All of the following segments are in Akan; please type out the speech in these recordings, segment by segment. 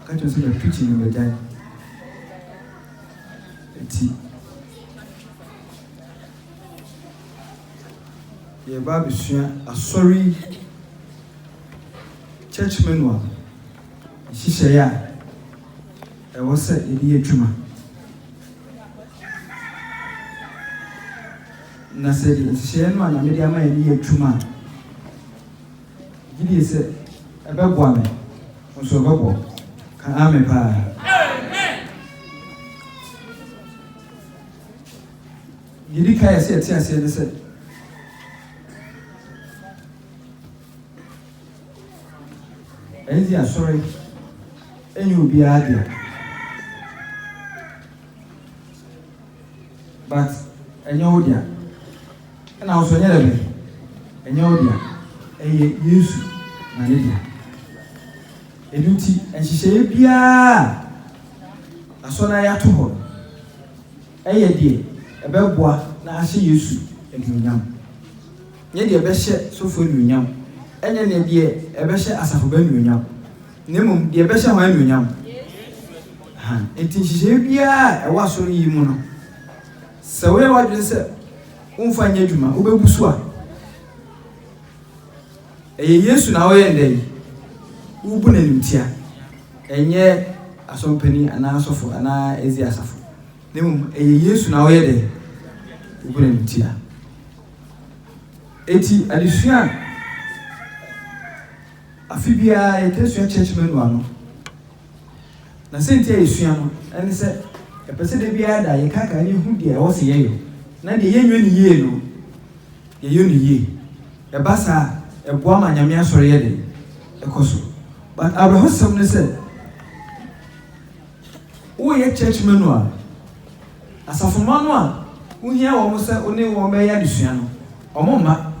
Ɔka kyerɛ me sɛ matu kyin na magyae. Enti yɛreba abɛsua asɔre yi church manual nhyehyɛeɛ a ɛwɔ sɛ yɛde yɛ adwuma. Na sɛ de nhyehyɛeɛ no a Nyame de ama yɛn no yɛ adwuma a, Gye die sɛ ɛbɛboa me nso ɛbɛboa wo ka amen paa. Deɛ di kan ɛsɛ ɛte aseɛ ne sɛ ɛnzi asɔre ɛnyɛ obiara deɛ but ɛnyɛ wo deɛ. Ɛna wo so ɛnyɛ dabi. Ɛnyɛ wo dea, ɛyɛ Yesu na ne dea. Ɛno nti nhyehyɛeɛ biara a Asɔre ayɛ ato hɔ no, ɛyɛ deɛ ɛbɛboa na ahyɛ Yesu anuonyam. Nyɛ deɛ ɛbɛhyɛ sɔfoɔ anuonyam, ɛnyɛ ne deɛ ɛbɛhyɛ asafo ba anuonyam, na mmom deɛ ɛbɛhyɛ hwan anuonyam? Ɛha. Nti nhyehyɛeɛ biara a ɛwɔ Asɔre yi mu no, Sɛ woyɛ w'adwene sɛ womfa nyɛ adwuma, wobɛwu so a, ɛyɛ Yesu na ɔyɛ nnɛ yi. Wobu no animtia, ɛnyɛ asɔmpanin anaa asɔfo anaa edzi asafo, na mmom ɛyɛ Yesu na woyɛ dɛn? Wobu no animtia. Eti adesua a afe biara yɛtaa sua Church Manual no, Na siantsir a yesua no nye sɛ yɛpɛ sɛ dabiara da yɛkaakae na yehu deɛ ɛwɔ sɛ yɛyɔ, na deɛ yɛnyɔ no yie no, yɛyɔ no yie. Ɛba saa a, ɛboa ma Nyame Asɔre yɛ dɛn? Ɛkɔ so. But awerɛhosɛm ne sɛ, woreyɛ church manual, asafomma no a wohia wɔn sɛ wo ne wɔn bɛyɛ adesua no, wɔmma.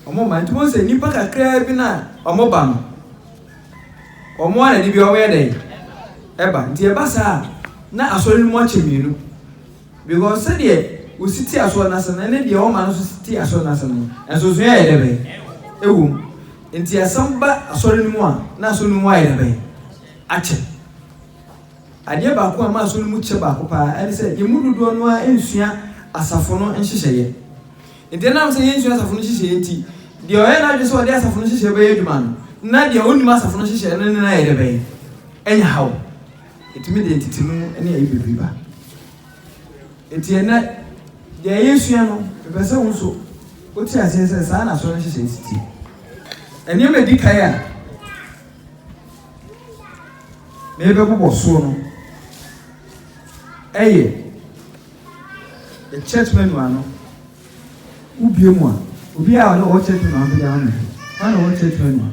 Wɔba, nti wohu sɛ nnipa kakraa bi no a wɔba no, wɔn ara na de bi wɔyɛ dɛn? Ɛba. Nti ɛba saa a, na asɔre no mu akyɛ mmienu. Because sɛdeɛ wosi te asɔre no ase no ne deɛ wɔma no nso si te asɔre no ase no, nsonsonoeɛ ayɛ dɛ bɛn? Ɛwɔ mu. Nti asɛm ba asɔre no mu a, na asɔre no mu ayɛ dɛ bɛn? Akyɛ. Adeɛ baako a ɛma asɔre no mu kyɛ baako paa ne sɛ yɛn mu dodoɔ no ara nsua asafo no nhyehyɛeɛ. Enti ɛnam sɛ yensua asafo no nhyehyɛe nti, deɛ ɔyɛ n'adwene sɛ ɔde asafo no nhyehyɛe bɛyɛ adwuma no, na deɛ onnim asafo no nhyehyɛe no ne no ayɛ dɛ bɛn? Anya haw. Etumi de ntetemu ne ayi bebree ba. Enti ɛnnɛ, deɛ yɛresua no, mepɛ sɛ wo nso wote aseɛ sɛ saa na asɔre no nhyehyɛe si teɛ. Nneɛma a ɛdi kan a merebɛbobɔ soɔ no yɛ Church manual no, wo bie mu a, obi a ɔwɔ church manual no bɛgya ama hwɛ. Hwan na ɔwɔ church manual?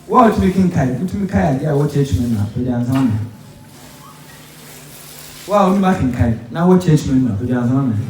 Wo a wotumi kenkan, wotumi kae adeɛ a ɔwɔ church manual bɛgya nsa ama hwɛ. Wo a wonim akenkan na ɔwɔ church manual bɛgya nsa ama hwɛ.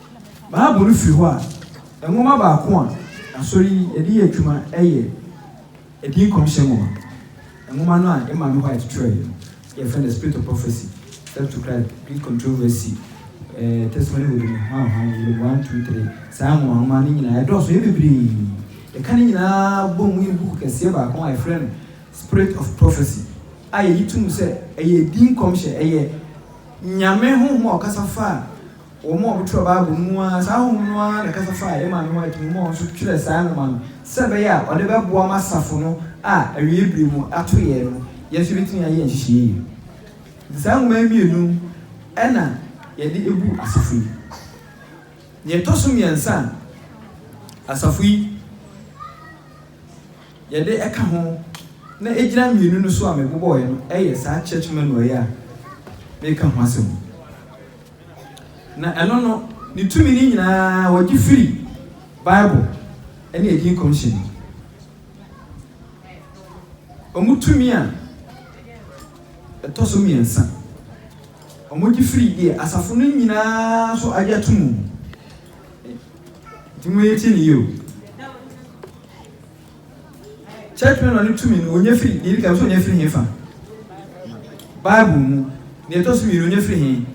Bible no fi hɔ a, nwoma baako a Asɔre yi de yɛ adwuma yɛ Edin Nkɔmhyɛ Nwoma. Nwoma no a Emman White twerɛeɛ no, yɛfrɛ no The Spirit of Prophecy, Steps to Christ, Greek Controversy, eh, Testimony Within It, hwan hwan, Volume 1, 2, 3. Saa nwoma nwoma no nyinaa ɛdɔɔso, ɛyɛ bebree. Yɛka ne nyinaa bɔ mu yɛ buku kɛseɛ baako a yɛfrɛ no Spirit of Prophecy a yɛyi to mu sɛ ɛyɛ edin nkɔmhyɛ, ɛyɛ Nyame honhom a ɔkasa faa Wɔn a wɔtwerɛ Bible no mu ara, saa honhom no ara na ɛkasa faa yɛn maame ho a ɛtumi ma ɔno nso twerɛɛ saa nwoma no sɛ ɛbɛyɛ a ɔde bɛboa ma asafo no a awieeɛ berɛ mu ato yɛn no, yɛn nso yɛbɛtumi ayɛ nhyehyɛeɛ yi. Nti saa nwoma yi mmienu na yɛde abu asafo yi. Deɛ ɛtɔ so mmiɛnsa a asafo yi yɛde ɛka ho na ɛgyina mmienu no so a mebobɔeɛ no yɛ saa church manual yi a mereka ho asɛm yi. Na ɛno no, ne tumi no nyinaa wɔgye firi Bible ne Edin Commission mu. Wɔn tumi a ɛtɔ so mmiɛnsa, wɔgye firi deɛ asafo no nyinaa nso agye ato mu. Nti mo yɛ tie ne yie o. Church Planner no tumi no, onya firi, deɛ ɛdi kan, sɛ onya firi hefa? Bible mu. Deɛ ɛtɔ so mmienu, onya firi he?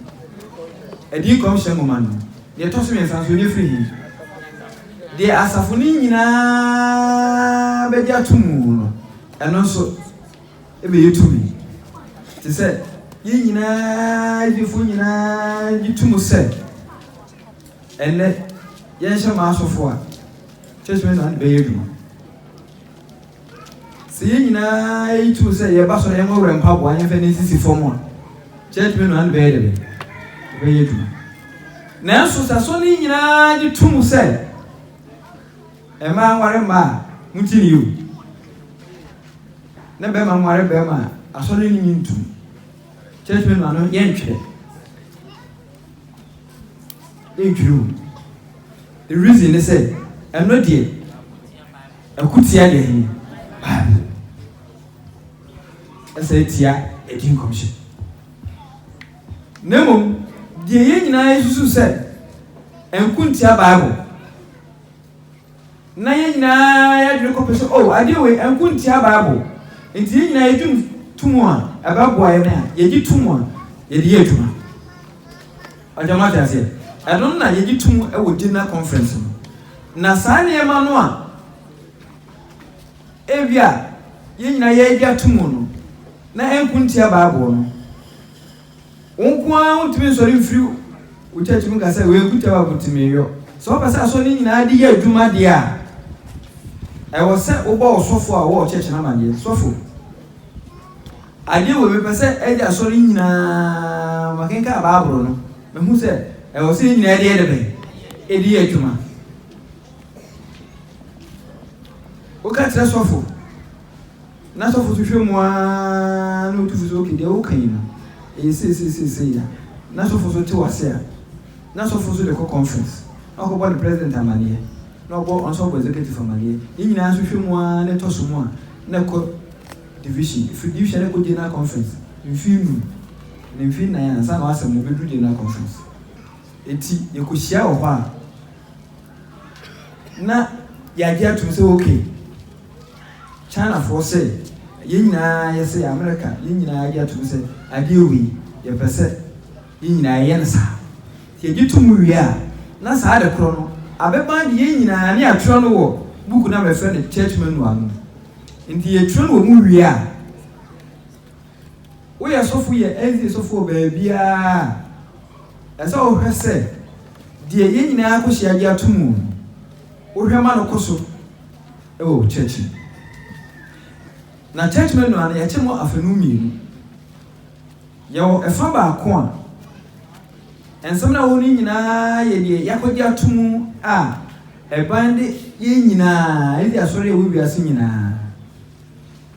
Ɛdi nkɔmhyɛ nwoma no mu. Deɛ ɛtɔ so mmiɛnsa nso, onya firi he? Deɛ asafo no nyinaa bɛgye ato mu no, ɛno nso, ɛbɛyɛ tumi. Te sɛ, yɛn nyinaa, adwufoɔ nyinaa gye to mu sɛ, ɛnnɛ, yɛnhyɛ maasɔfoɔ a, Kyɛ sɛ saa de bɛyɛ adwuma. Sɛ yɛn nyinaa yi tu sɛ yɛba sɔrɔ yɛn wɛwɛ mpaboa yɛn fɛ ne nsisi fam a, kyɛ tumi no ano bɛyɛ de bɛyɛ bɛyɛ adwuma. Nanso sɛ sɔ ne nyinaa de tum sɛ mmaa nware mmaa a moti ne yio na bɛrima nware bɛrima a asɔre ne nyi ntum. Kyɛ tumi no ano yɛntwerɛ. ntwiri wo. The reason ne sɛ, ɛno deɛ, ɛko tia deɛ he? Bible. Ɛsɛ ɛtia ɛdi nkɔmhyɛ. Na mmom, deɛ yɛn nyinaa yɛsusu sɛ ɛnko ntia Bible. na yɛn nyinaa yɛn adwene kɔpɛ sɛ, oh, adeɛ wei, ɛnko ntia Bible, nti yɛn nyinaa yɛdwene to mu a, ɛbɛboa yɛn a, yɛgye to mu a, yɛde yɛ adwuma. Ɔgya mo ate aseɛ? Ɛno na yɛgye to mu wɔ general conference no. Na saa nneɛma no a ebi a yɛn nyinaa yɛgye ato mu no, na ɛnko ntia Bible no, Wo nko ara wuntumi nsɔre mfiri wo church mu ka sɛ wei nkutɛ wa kuti me yɔ. Sɛ wopɛ sɛ asɔ ne nyinaa de yɛ adwuma deɛ a, ɛwɔ sɛ wobɔ wo sɔfo a ɔwɔ church no amadeɛ. Sɔfo, adeɛ wei mepɛ sɛ ɛde asɔ ne nyinaa makenka baaboro no. Mehu sɛ ɛwɔ sɛ nyinaa ɛde yɛ de bɛn ɛde yɛ adwuma. Woka kyerɛ sɔfo. N'asɔfo nso hwɛ mu ara na wotu fo sɛ, Ok, deɛ woreka yi no, ɛyɛ seiseisei a. N'asɔfo nso te wo ase a. N'asɔfo nso de kɔ conference, na ɔkɔbɔ ne president amaneɛ, na ɔbɔ ɔno nso ɔbɔ executive amaneɛ. Ne nyinaa nso hwɛ mu ara na ɛtɔ so mu a, na ɛkɔ division. Ɛfiri division na ɛkɔ general conference, mfeɛ nnum anaa mfeɛ nnan ansa na w'asɛm no bɛduru general conference. Enti yɛkɔhyia wɔ hɔ a, na yɛagye atom sɛ, Ok. Chinafoɔ sɛ yɛn nyinaa yɛsɛ yɛ America yɛn nyinaa gye atom sɛ adeɛ wei yɛpɛ sɛ yɛn nyinaa yɛyɛ no saa nti yɛgye to mu wie a na saa ade korɔ no abɛba de yɛn nyinaa ne yɛatwerɛ no wɔ buku no a mɛfrɛ no church manual no mu nti yɛtwerɛ no wɔ mu wie a woyɛ sɔfo yɛ ɛnzi sɔfo wɔ baabiara a ɛsɛ wohwɛ sɛ deɛ yɛn nyinaa kɔhyia gye ato mu wohwɛ ma no kɔ so wɔ church mu. Na church manual no yɛkye mu afanu mmienu. Yɛwɔ ɛfa baako a nsɛm no a ɛwɔ no nyinaa yɛ deɛ yɛakɔgye ato mu a ɛban de yɛn nyinaa ɛde asɔre ɛwɔ wiase nyinaa.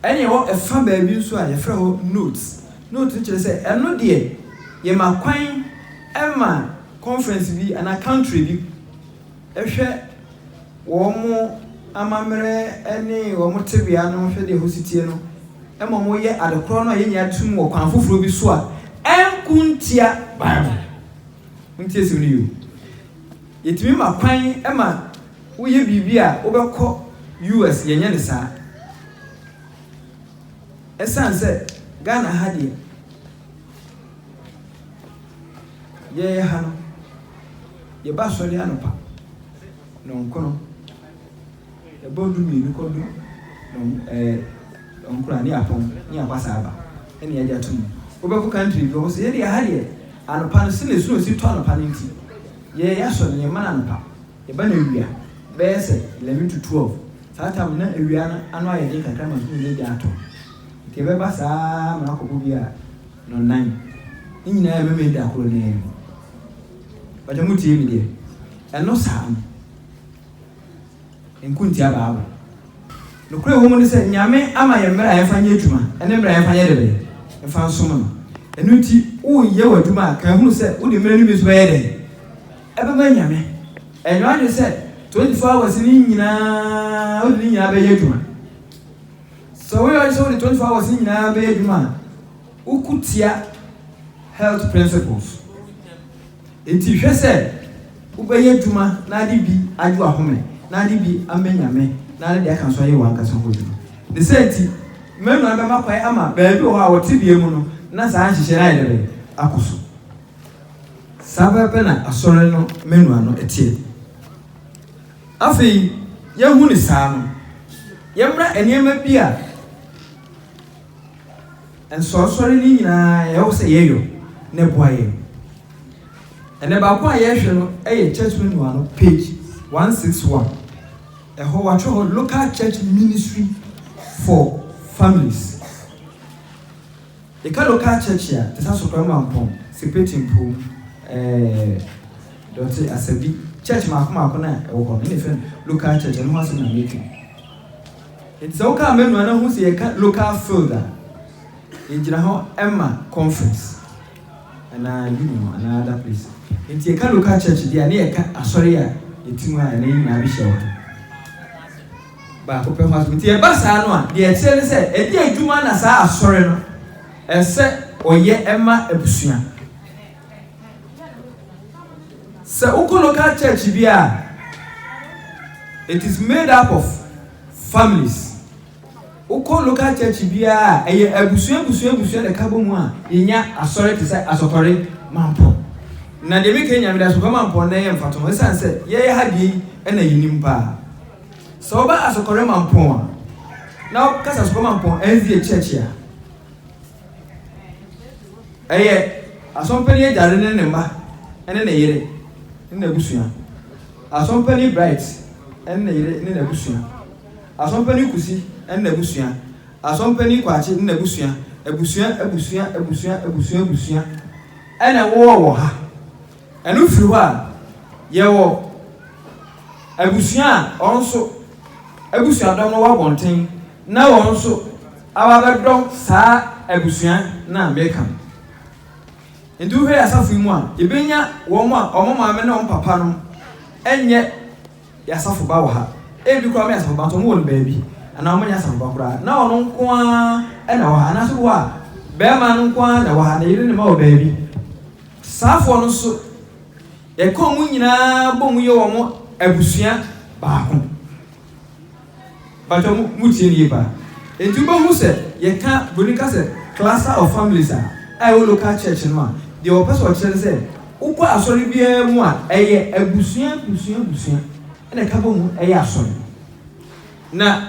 Ɛne ɛwɔ ɛfa baabi nso a yɛfrɛ hɔ notes. Note no kyerɛ sɛ ɛno deɛ yɛma kwan ɛma conference bi anaa country bi. hwɛ wɔn amammerɛ ne wɔn tebea no hwɛ de ɛho setie no ma wɔyɛ ade korɔ no a yɛn nyinaa de som wɔ kwan foforɔ bi so a ɛnko ntia Bible. Montie asɛm no yio. Yɛtumi ma kwan ma woyɛ biribi a wobɛkɔ US, yɛnyɛ no saa. Ɛsiane sɛ Ghana ha deɛ. Yɛyɛ ha no, yɛba asɔre anɔpa nnɔnkron, ɛbɔ du mmienu kɔ du nnɔn ɛɛ nnɔnkron a ne yɛapɔn ne yɛakɔ saa aba ɛna yɛde ato mu. Wobɛkɔ country bi wɔn sɛ yɛde aha deɛ anɔpa no sɛnea snow si tɔ anɔpa no nti yɛyɛ asɔre no yɛmma no anɔpa yɛba no awia bɛyɛ sɛ eleven to twelve saa tam no na awia no ano ayɛ den kakra ma snow no agya atɔ nti yɛbɛba saa ma akɔbɔ bi a No nan ne nyinaa ɛmemee da koro no ara mu. Mpakyɛ mo tie me deɛ. Ɛno saa no. Nko ntia bible. Nokorɛ ɛwɔ mu ne sɛ Nyame ama yɛn mmerɛ a yɛmfa nyɛ adwuma ɛne mmerɛ a yɛmfa nyɛ dɛ bɛn? Mfa nsom no. Ɛno nti wo yɛ w'adwuma a kan hunu sɛ wo de mmerɛ no bi nso bɛyɛ dɛn? Ɛbɛma Nyame. Ɛnyɛ w'adwene sɛ 24 hours no nyinaa wo de ne nyinaa bɛyɛ adwuma. Sɛ woyɛ ɔyɛ sɛ wode twenty four hours nyinaa bɛyɛ adwuma a, woko tia health principles. Enti hwɛ sɛ wobɛyɛ adwuma na ade bi agye w'ahome, na ade bi ama Nyame, na ade deɛ aka nso ayɛ w'ankasa ho adwuma. Ne saa nti, Manoa bɛma kwan ama baabi wɔ hɔ a wɔ tebea mu no na saa nhyehyɛe no ayɛ dɛ bɛn? Akɔ so. Saa pɛpɛpɛ na Asɔre no Manoa no teɛ. Afei, yɛahu no saa no, yɛmmra nneɛma bi a nsɔresɔre no nyinaa ɛwɔ sɛ yɛyɔ na ɛboa yɛn. Ɛnɛ baako a yɛrehwɛ no yɛ Church Manual no page one six one. Ɛhɔ wɔatwerɛ hɔ Local Church Ministry for Families. Yɛka local church a, te sɛ Asokora Mampong, Seprete Mpuom, ɛɛɛ Dɔte, Asabi, church mmaako mmaako no a ɛwɔ hɔ no, ɛna yɛfrɛ no local church, ɛno ho asɛm na meretwe. Enti sɛ wokaa manu a na hu sɛ yɛka local field a, yɛgyina hɔ ma conference anaa union anaa other place. Enti yɛka local church deɛ a, na yɛka asɔre a yɛte mu a ɛnɛ yɛn nyinaa bɛhyia wɔ ha. baako pɛ ho asɛm. Nti ɛba saa no a, deɛ ɛkyerɛ ne sɛ, ɛnyɛ adwuma na saa Asɔre no ɛsɛ ɔyɛ ma abusua. Sɛ wokɔ local church biara a, it is made up of families. Wokɔ local church biara a, ɛyɛ abusua abusua abusua na ɛka bɔ mu a yɛnya Asɔre te sɛ Asɔkɔre Mampɔ. Na deɛ meka yi Nyame de, Asɔkɔre Mampɔ nnɛ yɛmfa to ho, ɛsiane sɛ yɛyɛ ha deɛ yi na yɛnim paa. Sɛ woba Asɔkɔre Mampong a, na wokasa Asɔkɔre Mampong NZA Church a, ɛyɛ Asɔmpani Agyare ne ne mma ne ne yere ne n'abusua, Asɔmpani Bright ne ne yere ne n'abusua, Asɔmpani Kusi ne n'abusua, Asɔmpani Kwakye ne n'abusua, abusua, abusua, abusua, abusua, abusua, ɛna ɛwowɔ wɔ ha. Ɛno firi hɔ a, yɛwɔ abusua a wɔn nso abusuadɔm no wɔ abɔnten na wɔn nso aba abɛdɔ saa abusua no a meka no. Nti wohwɛ yɛn asafo yi mu a, yɛbɛnya wɔn a wɔn maame ne wɔn papa no nyɛ Yɛ asafo ba wɔ ha. Ebi koraa wɔyɛ asafo ba nso wɔwɔ no baabi anaa wɔnyɛ asafo ba koraa na ɔno nko ara na ɛwɔ ha anaasɛ wɔ a barima no nko ara na ɛwɔ ha na yere no mma wɔ baabi. Saafoɔ no nso yɛka wɔn nyinaa bɔ mu yɛ wɔn abusua baako. Mpakyɛw mo mo tie no yie paa. Enti wobɛhu sɛ yɛka broni ka sɛ cluster of families a a ɛwɔ local church no a, deɛ wɔpɛ sɛ wɔkyerɛ ne sɛ wokɔ asɔre biara mu a ɛyɛ abusua abusua abusua na ɛka bɔ mu ɛyɛ asɔre. Na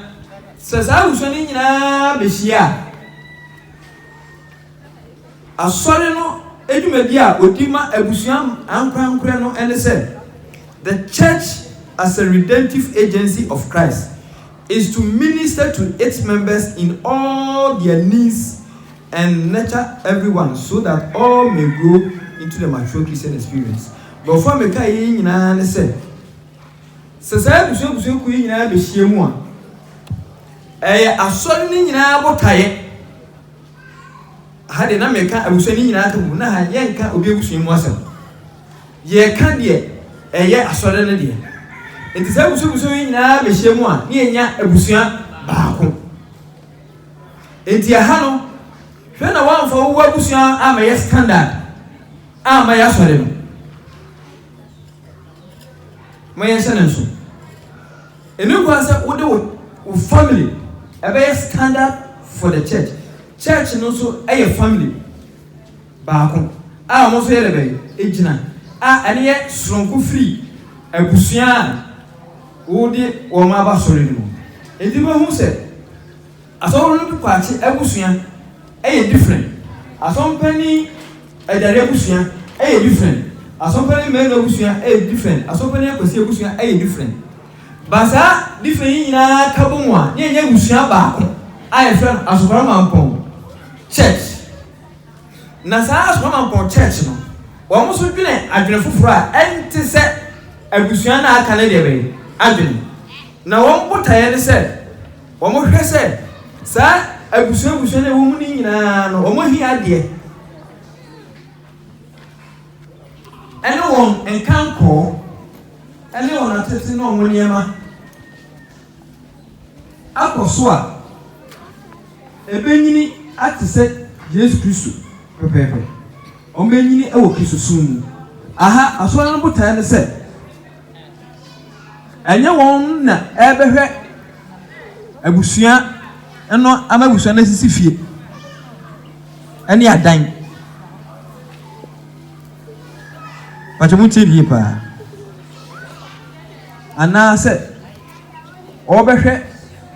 sɛ saa abusua no nyinaa bɛhyia a, Asɔre no dwumadi a wɔdi ma abusua ankorankorɛ no ne sɛ, The church as a redemptive agency of Christ is to minister to its members in all their needs and nurture everyone so that all may grow into the mature Christian experience. Borɔfo a mekaeɛ yi nyinaa ne sɛ, sɛ saa abusua abusuakuo yi nyinaa bɛhyiam a, ɛyɛ Asɔre no nyinaa botaeɛ, Aha deɛ na meka abusua no nyinaa asɛm o, na aha yɛnka obi abusua mu asɛm. Yɛka deɛ ɛyɛ asɔre no deɛ. Nti saa abusua abusua yi nyinaa bɛhyia mu a, ne yɛnya abusua baako. Nti aha no, hwɛ na woamfa wo abusua amɛyɛ standard amma yɛ asɔre no. Mo yɛnhyɛ no nso. Ɛmɛ kura sɛ wode wo wo family ɛbɛyɛ standard for the church church no nso ɛyɛ family baako a wɔn nso yɛ dɛ bɛyɛ egyina a ɛne yɛ soronko firi abusua a wode wɔn aba sɔre no mu eti bɛhu sɛ. Asɔre no kwakye abusua yɛ different, asɔmpanin adware abusua yɛ different, asɔmpanin mmarima abusua yɛ different, asɔmpanin akwasi abusua yɛ different. But saa different yi nyinaa ka bɔ mu a na yɛnyɛ abusua baako a yɛfrɛ no Asɔkwara Mampɔn Church. Na saa Asɔkwara Mampɔn Church no, wɔn nso dwene adwene foforɔ a ɛnte sɛ abusua no a aka no deɛ bɛn adwene. Na wɔn botaeɛ ne sɛ. Wɔhwɛ sɛ saa abusua abusua no a ɛwɔ mu no nyinaa no, wɔn ahiadeɛ ne wɔn nkankɔɔ ne wɔn atete ne wɔn nneɛma akɔ so a, ɛbɛnyini ate sɛ Yesu Kristo pɛpɛɛpɛ. Wɔbɛnyini wɔ Kristosom mu. Aha, asɔre no botaeɛ ne sɛ. Ɛnyɛ wɔn na ɛrebɛhwɛ abusua no ama abusua no asisi fie ne adan. Pakyɛ mo tie yie paa. Anaasɛ ɔrebɛhwɛ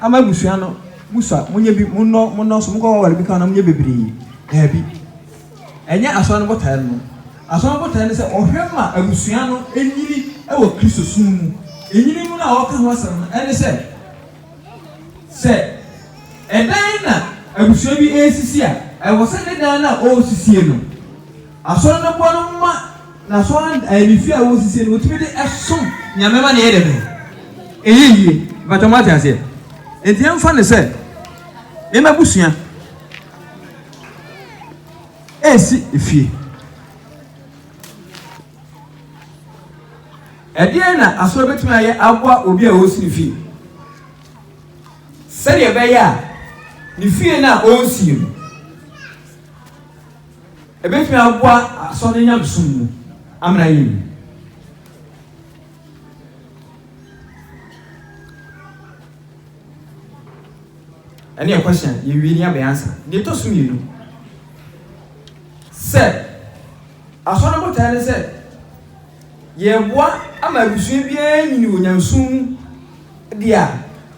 ama abusua no musa monyɛ bi monnɔ monnɔ so monkɔ waware bi ka na monyɛ bebree daabi. Ɛnyɛ Asɔre no botaeɛ no no. Asɔre no botaeɛ ne sɛ ɔhwɛ ma abusua no nyini wɔ Kristosom mu. Nyini mu no a ɔreka ho asɛm no ne sɛ, sɛ ɛdan na abusua bi resisi a, ɛwɔ sɛ ne dan no a ɔresisie no, Asɔre no boa no ma n'asɔre ɛɛ ne fie a ɔresisie no, ɔtumi de som Nyame ma no yɛ dɛ bɛn? Ɛyɛ yie. Mpakyɛ moate aseɛ? Enti yɛmfa no sɛ me m'abusua. Resi fie. Ɛdeɛn na asɔre bɛtumi ayɛ aboa obi a ɔresi fie sɛdeɛ ɛbɛyɛ a ne fie no a ɔresie no ɛbɛtumi aboa asɔre nyamesom mu amena yɛ mu Ɛne yɛ question yɛ wie ne yɛ bɛ answer. Deɛ ɛtɔ so mmienu sɛ Asɔre botae ne sɛ yɛreboa ama abusua biara anyini wɔ Nyamesom mu deɛ a,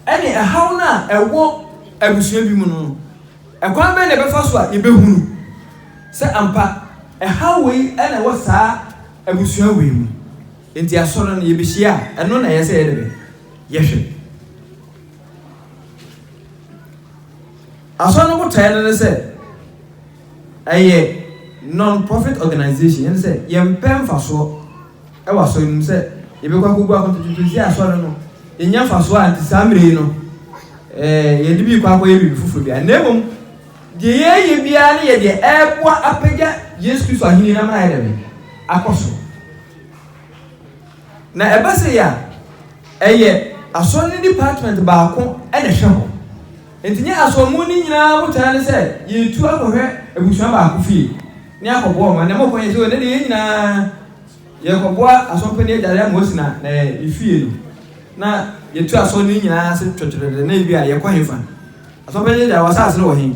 ɛne ɛhaw no a ɛwɔ abusua bi mu no no, ɛkwan bɛn na yɛbɛfa so a yɛbɛhunu sɛ ampa ɛhaw wei na ɛwɔ saa abusua wei mu. Enti Asɔre no yɛbɛhyia a, ɛno na ɛyɛ sɛ yɛde bɛ yɛhwɛ. Asɔre no botaeɛ no ne sɛ ɛyɛ non-profit organisation, ɛne sɛ yɛmpɛ mfasoɔ wɔ asɔre no mu sɛ yɛbɛkɔ akɔgu akontatwitwe sɛ asɔre no yɛnya mfasoɔ a nti saa mmerɛ yi no yɛde bi kɔ akɔyɛ biribi foforɔ bi a na mmom deɛ yɛyɛ biara ne yɛ deɛ ɛboa apagya Yesu Kristo ahenni no ama ayɛ dɛm akɔ so. Na ɛba sei a, ɛyɛ Asɔre no department baako na ɛhwɛ hɔ. Enti nyɛ Asɔremuni no nyinaa botaeɛ ne sɛ yɛretu akɔhwɛ abusua baako fie ne akɔboa wɔn. Ɛnna mokɔ yɛ sɛ, o, ɛnnɛ deɛ yɛn nyinaa yɛrekɔboa asɔmpanin adware ama wasi na na ne fie no, na yɛtu asɔre no nyinaa ase twɛtwɛtwɛtwɛ na ebi a yɛkɔ hefa? Asɔmpanin adware w'asaase no wɔ he?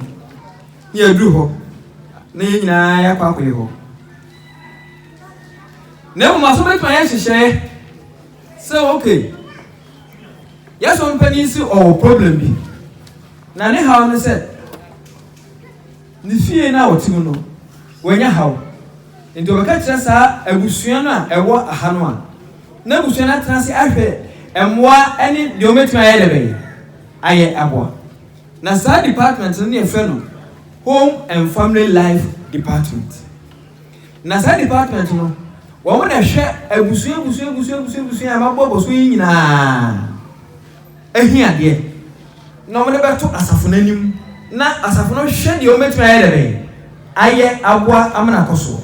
Na yɛaduru hɔ na yɛn nyinaa yɛakɔ akɔyɛ hɔ. Na mmom asɔfo betumi ayɛ nhyehyɛe sɛ oke, yɛn sɔfo panyin si ɔwɔ problem bi, na ne haw ne sɛ ne fie no a ɔte mu no, wanya haw. Nti ɔbɛka kyerɛ saa abusua no a ɛwɔ ha no a, na abusua no atena ase ahwɛ mmoa ne deɛ wɔbɛtumi ayɛ dɛ bɛyɛ ayɛ aboa. Na saa department no ne yɛfrɛ no Home and Family Life Department. Na saa department no wɔn na ɛhwɛ abusua abusua abusua abusua abusua a mabɔ bɔ so yi nyinaa ɛhi adeɛ na wɔn de bɛto asafo no anim na asafo no hwɛ deɛ wɔbɛtumi ayɛ dɛbɛ ayɛ aboa amena akɔ soɔ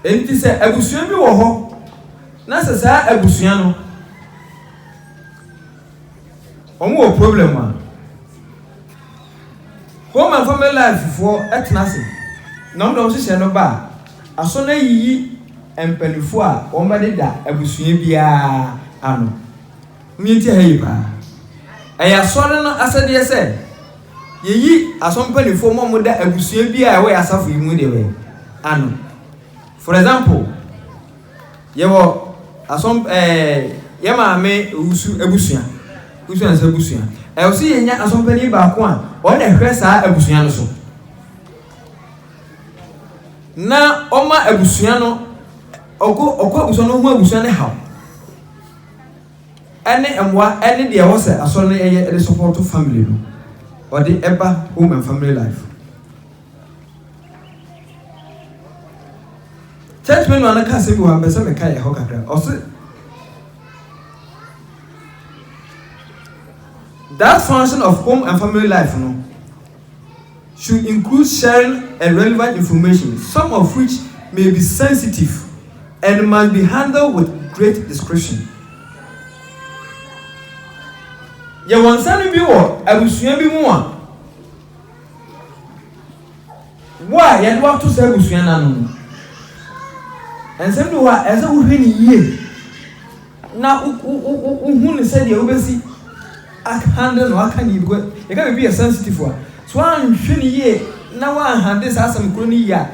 enti sɛ abusua bi wɔ hɔ na sɛ saa abusua no Ɔmo wɔ problem a home and family life foɔ ɛtena ase na ɔmo de ɔmo hyehyɛ no ba a asɔ no ayiyi mpaninfoɔ a wɔn bɛ deda abusua biara ano mo yɛntie ha yie paa ɛyɛ asɔre no asɛdeɛ sɛ yɛyi asɔ mpaninfoɔ mo a ɔmo da abusua biara a ɛwɔ yɛ asafo yi mu deɛ bɛ ano for example. Yɛwɔ asɔm ɛɛ yɛ maame owusu abusua, owusu ansa abusua. Ɛwɔ sɛ yɛnya asɔmpanin baako a ɔno na ɛhwɛ saa abusua no so. Na ɔma abusua no ɔkɔ ɔkɔ abusua no ho abusua no haw. Ɛne mmoa ɛne deɛ ɛwɔ sɛ asɔre no ɛyɛ ɛde sɔpɔto family no ɔde ɛba home and family life. Church me nua no ka asɛm bi wɔ ha mpɛ sɛ meka ɛhɔ kakra. Ɔse that function of home and family life no should include sharing a relevant information some of which may be sensitive and must be handled with great discretion. Yɛwɔ nsɛm bi wɔ abusua bi mu a Wo a yɛde wo ato saa abusua no ano no, nsɛm bi wɔ hɔ a ɛsɛ sɛ wohwɛ no yie na wohu no sɛdeɛ wobɛsi handle no aka ne yibikɔ yɛka biribi yɛ sensitive a so woanhwɛ no yie na woanhandle saa asɛm koro no yie a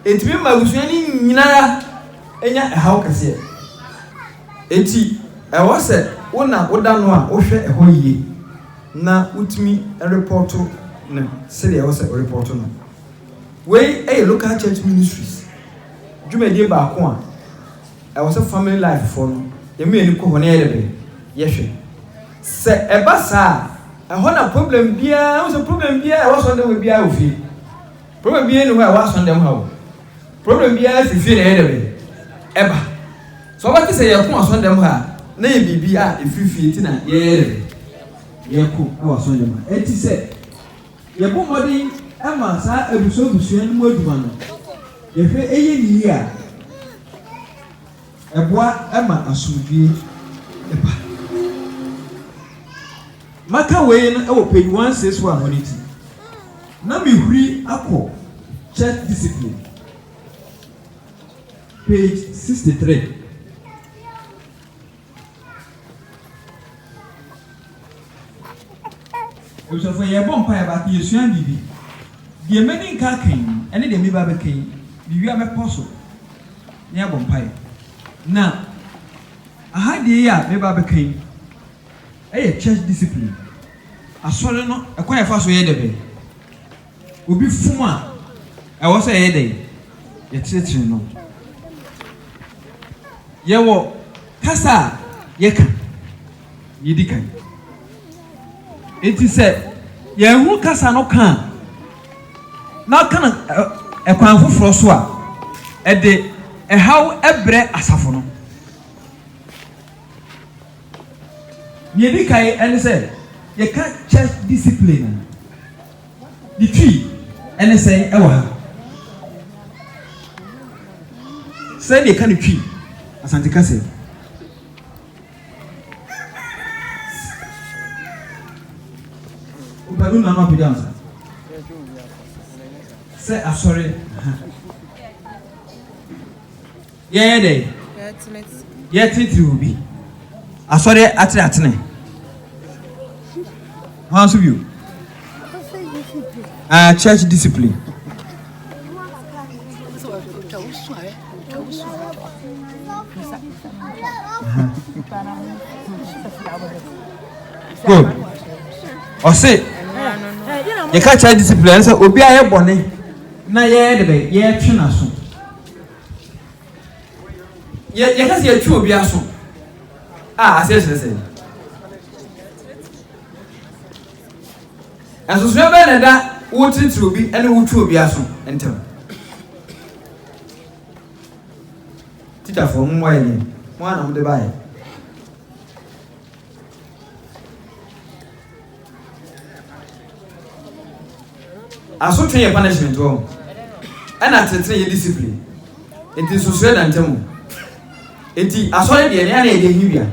ɛtumi ma abusua no nyinaa ɛnya ɛhaw kɛseɛ ɛti ɛwɔ sɛ wo na woda no a wohwɛ ɛhɔ yie na wotumi repɔɔto no sɛdeɛ ɛwɔ sɛ worepɔɔto no. Wei yɛ Local Church Ministries dwumadie baako a ɛwɔ sɛ Family Life foɔ no yɛn mmienu kɔ hɔ na yɛyɛ dɛbɛn? Yɛhwɛ. Sɛ ɛba saa a, ɛhɔ na problem biara, wohu sɛ problem biara ɛwɔ asɔre dɛm hɔ biara wɔ fie. Problem biara nni hɔ a ɛwɔ asɔre dɛm ha o. Problem biara firi fie na ɛyɛ dɛ bɛn? Ɛba. So wobɛte sɛ yɛko asɔre dɛm ha a, na yɛ biribi a ɛfiri fie nti na yɛyɛ dɛ bɛn? Yɛko wɔ asɔre dɛm ha. Ɛnti sɛ yɛbɔ mmɔden ma saa abusua abusua no mu adwuma no, yɛhwɛ yɛ no yie a, ɛboa ma asomdwie ba. Maka wei no wɔ page one six one hɔ n'akyi na mehuri akɔ church discipline page sixty three. Abusuafo yɛbɔ mpaeɛ baako yɛsua biribi. Deɛ mɛni nka aka yi ɛne deɛ meba bɛka yi mewie a mɛpɔ so na yɛabɔ mpaeɛ. Na aha deɛ yi a meba bɛka yi Ɛyɛ church discipline, asɔre no kwan a ɛfa so yɛ dɛbɛn, obi fom a ɛwɔ sɛ yɛyɛ dɛn, yɛkyerekyere no. Yɛwɔ kasa a yɛka, yɛdi kan. Enti sɛ yɛanhunu kasa no ka a, na ɔka no kwan foforɔ so a, ɛde ɛhaw brɛ asafo no. Nea edi kan ne sɛ, yɛka church discipline a, ne twi ne sɛn wɔ ha? Sɛn na yɛka no twi Asante kasa mu? Wopɛ no na ama apagya nsa. Sɛ asɔre. Yɛyɛ dɛn? Yɛtenetene obi. Asɔre atenatene. Hwan nso bio? Ah, church discipline. Good. Ɔse, yɛka church discipline ɛne sɛ obi a yɛ bɔne na yɛyɛ de bɛ yɛtwe n'aso. yɛ yɛka sɛ yɛtwe obi aso a aseɛ kyerɛ sɛ ɛsosoɛ bɛɛ na ɛda wotiritiri obi ne wotwe obi aso ntam tikyafoɔ mu wayɛ deɛ mo a na mode baeɛ Asotwe yɛ punishment wɔ hɔ, ɛna tsetsen yɛ discipline. Ntsi nsosoɛ da ntamu. Ntsi Asɔre deɛ no yɛ na yɛde ahi wia.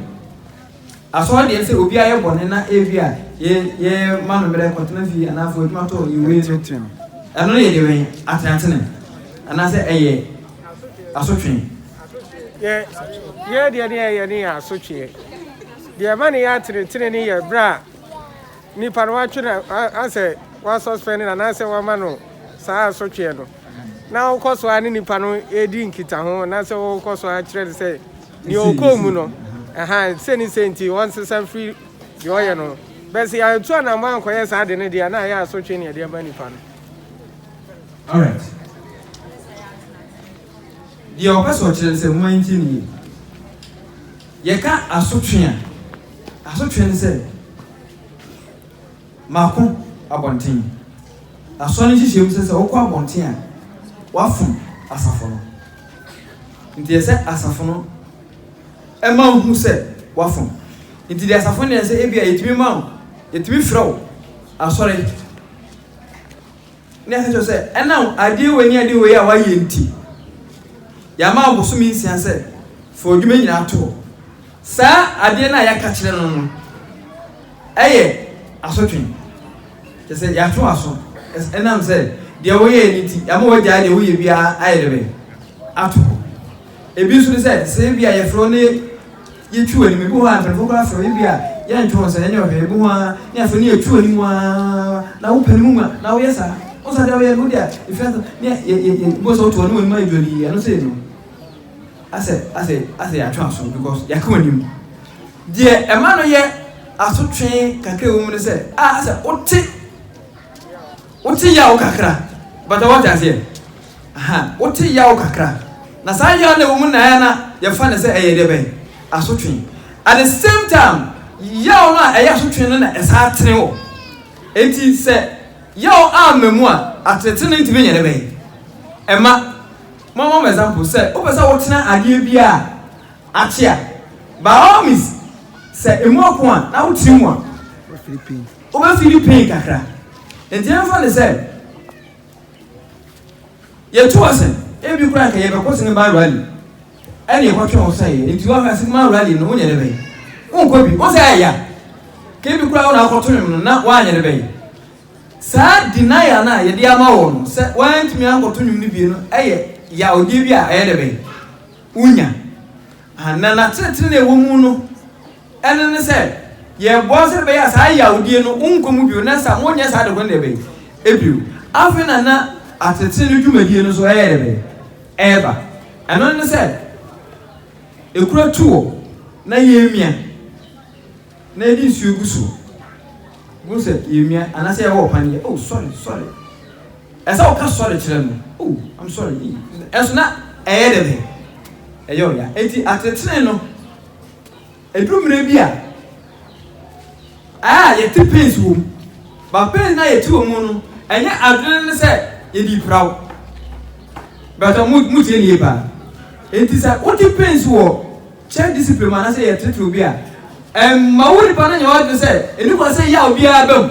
Asɔre deɛ no sɛ obi ayɛ bɔne na ebi a yɛ yɛ ma no mmerɛ kɔtena fie anaa fo adwuma tɔ ne wei no, ɛno no yɛde wɛn atenatene anaasɛ ɛyɛ asotwe. Yɛ yɛ deɛ no yɛ yɛ no yɛ asotweɛ. Deɛ ɛma no yɛ atenetene no yɛ berɛ a nipa no watwe no asɛ wɔasuspend no anaasɛ wɔama no saa asotweɛ no na wokɔ so ara ne nipa no ɛredi nkitaho anaasɛ wokɔ so ara kyerɛ no sɛ deɛ ɔkɔɔ mu no ɛha sɛ ne sɛ nti ɔnsesa mfiri deɛ ɔyɛ no bɛsɛ yɛatu anammɔ ankɔyɛ saa de no deɛ na ayɛ asotwe ne ɛde ama nipa no Alright. Deɛ ɔpɛ sɛ ɔkyerɛ no sɛ moantie no yie. Yɛka asotwe a, asotwe ne sɛ mako abɔnten. Asɔre no nhyehyɛɛ mu sɛ sɛ wokɔ abɔnten a, woafom asafo no. Nti ɛsɛ sɛ asafo no ma wohu sɛ woafom. Nti deɛ asafo no yɛ sɛ ebia yɛtumi ma wo, yɛtumi frɛ wo asɔre. Na ɛka kyerɛ sɛ, Ɛnam adeɛ wei ne adeɛ wei a woayɛ nti, yɛama wo bosome nsia sɛ fa w'adwuma nyinaa to hɔ. Saa adeɛ no a yɛaka kyerɛ no no yɛ asotwe. Kyerɛ sɛ, yɛatwe w'aso. Ɛnam sɛ deɛ woyɛeɛ no nti, yɛama woagyae deɛ woyɛ biara ayɛ dɛ bɛn? Ato hɔ. Ebi nso ne sɛ, sɛ ebia yɛfrɛ wo na yɛtwi w'anim, ebi wɔ hɔ a mpanyimfo koraa frɛ wo, ebia yɛnto wo nsa, yɛnyɛ wo hwee, ebi wɔ hɔ ara ne yɛfrɛ na yɛtwi w'anim ara na wopɛ no mu ma, na woyɛ saa. Wohu sɛ adeɛ a woyɛ no, wode a, efi ase ne yɛ, yɛ, yɛ, wobɛhu sɛ woto w'anim w'anim ayɛ dwodii, ɛno sei no, asɛ, asɛ, asɛ yɛatwe aso, because yɛaka w'anim. Deɛ ɛma no yɛ asotwe kakra wɔ mu ne sɛ, a, asɛ wote. Wote yaw kakra but wote aseɛ ahaa wote yaw kakra na saa yaw no a ɛwɔ mu naɛ na yɛfa no sɛ ɛyɛ deɛbɛn asotwe at the same time yaw no a ɛyɛ asotwe no na ɛsaa tene wɔ enti sɛ yaw amma mu a atenetene no ntumi nyɛ dɛbɛn ɛma mama mo example sɛ wopɛ sɛ wotena adeɛ bi a akye a by all means sɛ ɛmu ako a na wotene mu a Wobɛfiili pain kakra. Nti yɛmfa no sɛ yɛtu ɔsɛn, ebi koraa nka yɛbɛkɔ sinima rally ɛne yɛkɔtwe ho sɛ yɛ. Nti woaka sinima rally no wonyɛ ne bɛyɛ. Wonkɔ bi. Wo sɛ ɛyɛ ya. Ka ebi koraa wo na akɔto nwom no na woanyɛ ne bɛyɛ. Saa denial no a yɛde ama wɔ no sɛ woantumi ankɔto nwom no bie no ɛyɛ yawdeɛ bi a ɛyɛ dɛ bɛyɛ. Wonya. Aha, na n'atenetene na ɛwɔ mu no Ɛno ne sɛ, yɛboa wo sɛdeɛ ɛbɛyɛ a saa yawdie no wonkɔ mu bio na sɛ wonyɛ saa de ho no deɛ bɛn? Ɛbio. Afei na na atetee no dwumadie no nso ɛyɛ deɛ bɛn? Ɛreba. Ɛno ne sɛ, ɛkura tu hɔ na yɛmia na yɛde nsuo gu soɔ. Wohu sɛ yɛmia anaasɛ yɛwɔ ɔpan yɛ oh sorry sorry. Ɛsɛ woka sorry kyerɛ no oh I'm sorry ii ɛnso na ɛyɛ deɛ bɛn? Ɛyɛ ɔya. Enti atetee no. Ɛduru mmerɛ bi a a yɛte pains wɔ mu, but pains no a yɛte wɔ mu no, ɛnyɛ adwene no sɛ yɛde repira wo. Bɛtɔ mo mo tie ne yie paa. Enti sɛ wote pains wɔ church discipline mu anaasɛ yɛtetere obi a, ɛmma wo nipa no nyɛ w'adwene sɛ ɛni kwan sɛ yaw biara ba mu.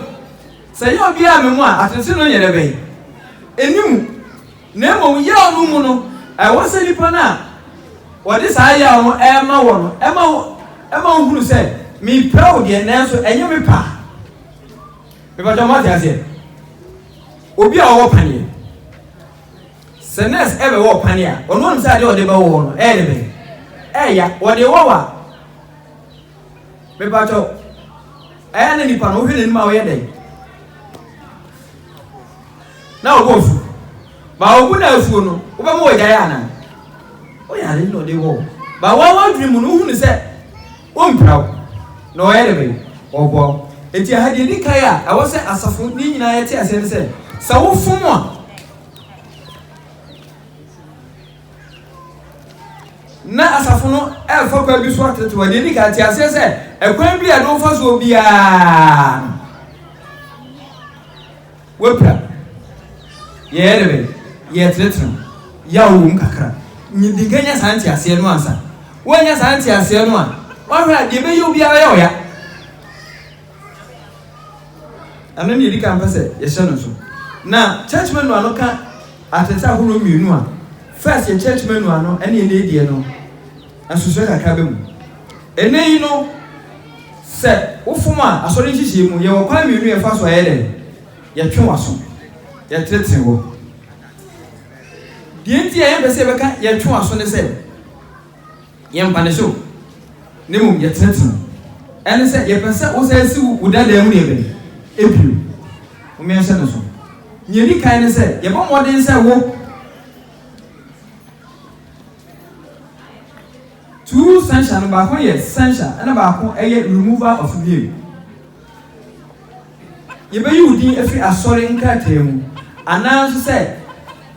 Sɛ yaw biara ba mu a, atenetene no nyɛ dɛ bɛn? Ɛni mu. Na mmom yaw no mu no, ɛwɔ sɛ nnipa no a wɔde saa yaw no rema wɔ no ma wo ma wohunu sɛ, mepɛ wo deɛ, nanso ɛnyɛ me pɛ a. Mepakyɛ moate aseɛ? Obi a ɔwɔ paneɛ, sɛ nurse ɛbɛwɔ wo paneɛ a, ɔno ɔnim sɛ adeɛ ɔde bɛwɔ wo no ɛyɛ ne bɛn? Ɛya, ɔde wɔ wa. Mepakyɛ ɛyɛ ne nipa no wohwɛ n'anim a ɔyɛ dɛn? na ɔwɔ afu ba ɔbu na afuo no wobɛma wɔgyae anaa woyare na ɔde wɔ ba wɔn adwene mu no wohunu sɛ wompira wo na ɔyɛ de bɛn ɔboa wo enti aha deɛ di kan a ɛwɔ sɛ asafo ne nyinaa yɛte aseɛ no sɛ sɛ wofom a na asafo no ɛfa kwan bi so atete wɔ deɛ di kan te aseɛ sɛ ɛkwan bi a ɛde wofa soɔ biara W'apira, yɛyɛ dɛ bɛn? Yɛretenetene wo, yaw wɔ mu kakra. Nyi di nka nya saa nteaseɛ no ansa. Woannya saa nteaseɛ no a, woahwɛ a deɛ ɛbɛyɛ wo biara bɛyɛ wo ya. Ɛno ne yɛdi kan pɛ sɛ yɛhyɛ no nso. Na church manual no ka atenetene ahorow mmienu a, first yɛ church manual no ɛne ɛnɛ deɛ no. Nsusuɛ kakra bɛ mu. Ɛnnɛ yi no, sɛ wo fom a, Asɔre nhyehyɛɛ mu, yɛwɔ kwan mmienu yɛfa so a yɛ dɛ, yɛtwe w'aso, yɛtenetene hɔ. Deɛ nti a yɛmpɛ sɛ yɛbɛka yɛtwe w'aso ne sɛ, yɛmpanish wo, na mmom yɛtenetene wo. Ɛne sɛ, yɛpɛ sɛ wo san si wo wo dadaa mu deɛ bɛn? Ebio. Wo mmea hyɛ ne so. Nea ɛdi kan ne sɛ, yɛbɔ mmɔden sɛ wo. Two censure no baako yɛ censure ɛna baako ɛyɛ removal of name. Yɛbɛyi wo din afiri asɔre nkrataa mu anaa nso sɛ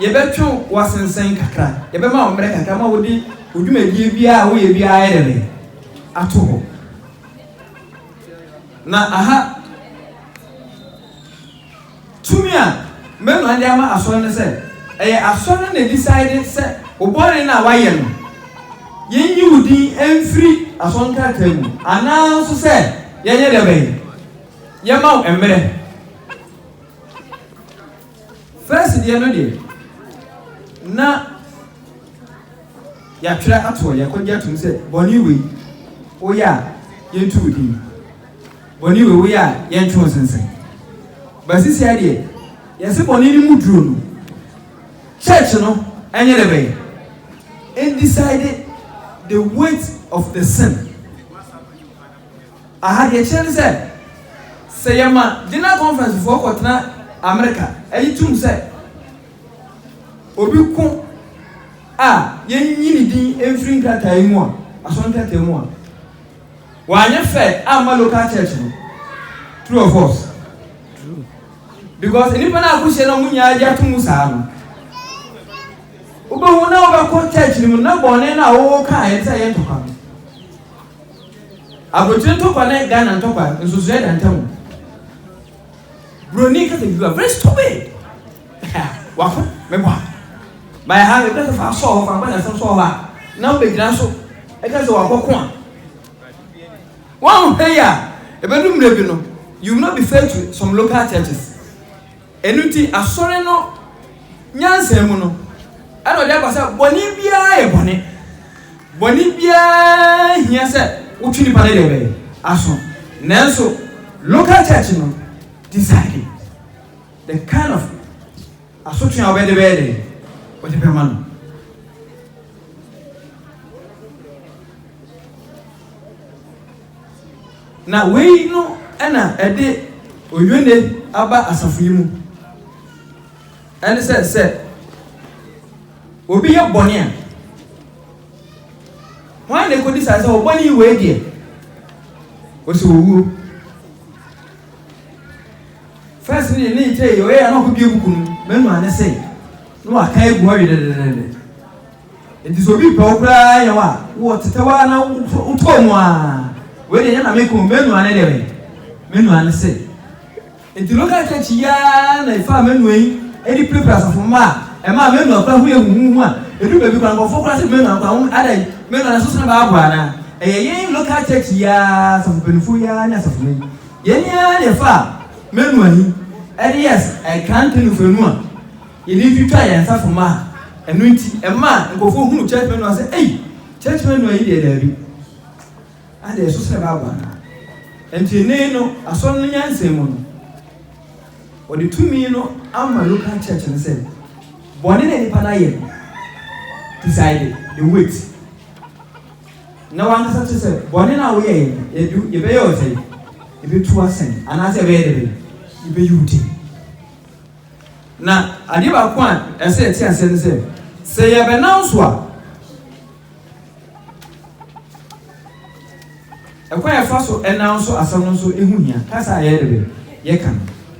yɛbɛtwe wo asensɛn kakra, yɛbɛma wo mmerɛ kakra ma wode wo dwumadie biara a woyɛ biara ayɛ dɛn ato hɔ. Na aha Tumi a Mmɛnua de ama Asɔre no sɛ ɛyɛ Asɔre no na decide sɛ wo bɔne no a wayɛ no yɛnyi wo din mfiri Asɔre nkrataa mu anaa nso sɛ yɛnyɛ deɛ bɛn? Yɛma wo mmerɛ. First deɛ no deɛ na yɛatwerɛ ato hɔ, yɛakɔgye atom sɛ bɔne wei woyɛ a yɛntu wo din. Bɔne wei woyɛ a yɛntwe wo sensɛn. But sisia deɛ yɛse bɔne no mu duro no church no ɛnyɛ dɛ bɛyɛ in decide the weight of the sin. Aha deɛ kyerɛ ne sɛ sɛ yɛma general conference foɔ kɔtena America ɛgye tum sɛ obi ko a yɛnyi ne din mfiri nkrataa yi mu a asɔre nkrataa mu a. Wanyɛ fair amma local church no. True or false? True. Because nnipa no akɔhyia na ɔmo nyinaa gye ato mu saa no. Wobɛhu na wobɛkɔ church no mu na bɔne no a wowɔ kaa yɛn sɛ yɛ ntɔkwa no. Aburokyire ntɔkwa ne Ghana ntɔkwa nsusuɛ da ntam. Broni kasa you are very stupid. Wako me bɔ a. Ba yɛ ha yɛ bɛ fa sɔɔ hɔ fa bɔ yasɛm sɔɔ hɔ a na wo bɛ gyina so ɛka sɛ wakɔ ko a. Wɔn hwɛ yɛ a ɛbɛ no mmerɛ bi no you will not be fair to some local churches. Ɛnu ti asɔre no nyansa mu no ɛna ɔde aba sɛ bɔne biara yɛ bɔne. Bɔne biara nhia sɛ wotwe nipa no deɛ bɛyɛ aso nanso local church no decide the kind of asotwe a wɔbɛde bɛyɛ dɛ wɔde bɛma no. Na wei no ɛna ɛde oyone aba asafo yi mu. Ɛne sɛ, sɛ obi yɛ bɔne a, hwan na ɛkɔdi saa sɛ ɔbɔne yi wei deɛ, ɔsɛ owuo. First ne ne nkyɛ yɛ ɔyɛ a na ɔkɔbie kuku no, manu ane se, na waka agu hɔ wedededede. Nti sɛ obi pɛ wo koraa yɛ hɔ a, wɔ tetɛ hɔ a na wotɔɔ mu a, wei deɛ nyɛ na meko, manu ane deɛ bɛn, manu ane se. Enti local church yi ara na mefaa m'anua yi de pirapiraa asafo mma a ɛmaa m'anua koraa ho yɛ huhuuhu a ɛduu baabi koraa nkurɔfoɔ koraa sɛ m'anua koraa ho adɛn, m'anua no so sene Bible anaa? Ɛyɛ yɛn local church yi ara asafo mpanimfoɔ yi ara ne asafo no yi. Yɛn yi ara na yɛfaa m'anua yi de yɛɛ ɛkrante no mfanu a yɛde fi twaa yɛn asafo mma a ɛno nti ɛmaa nkurɔfoɔ hunuu church m'anua sɛ ei, church m'anua yi deɛ daabi. Adɛn, ɛsɛ sɛ ɛba aba anaa? Enti nnɛ yi no, Asɔre no nyansa mu no, wɔde tumi no ama local church no sɛ, bɔne no a nnipa no ayɛ no, decide, they wait. Na w'ankasa kyerɛ sɛ, bɔne no a woyɛeɛ no, yɛde, yɛbɛyɛ wo sɛn? Yɛbɛtu wo asɛn, anaasɛ yɛbɛyɛ dɛ bɛn? Yɛbɛyi wo din. Na adeɛ baako a ɛsɛ yɛte aseɛ ne sɛ, sɛ yɛbɛnanso a, Ɛkwan a yɛfa so nanso asɛm no nso, ɛho hia. Kasa a yɛyɛ dɛ bɛ, yɛka no.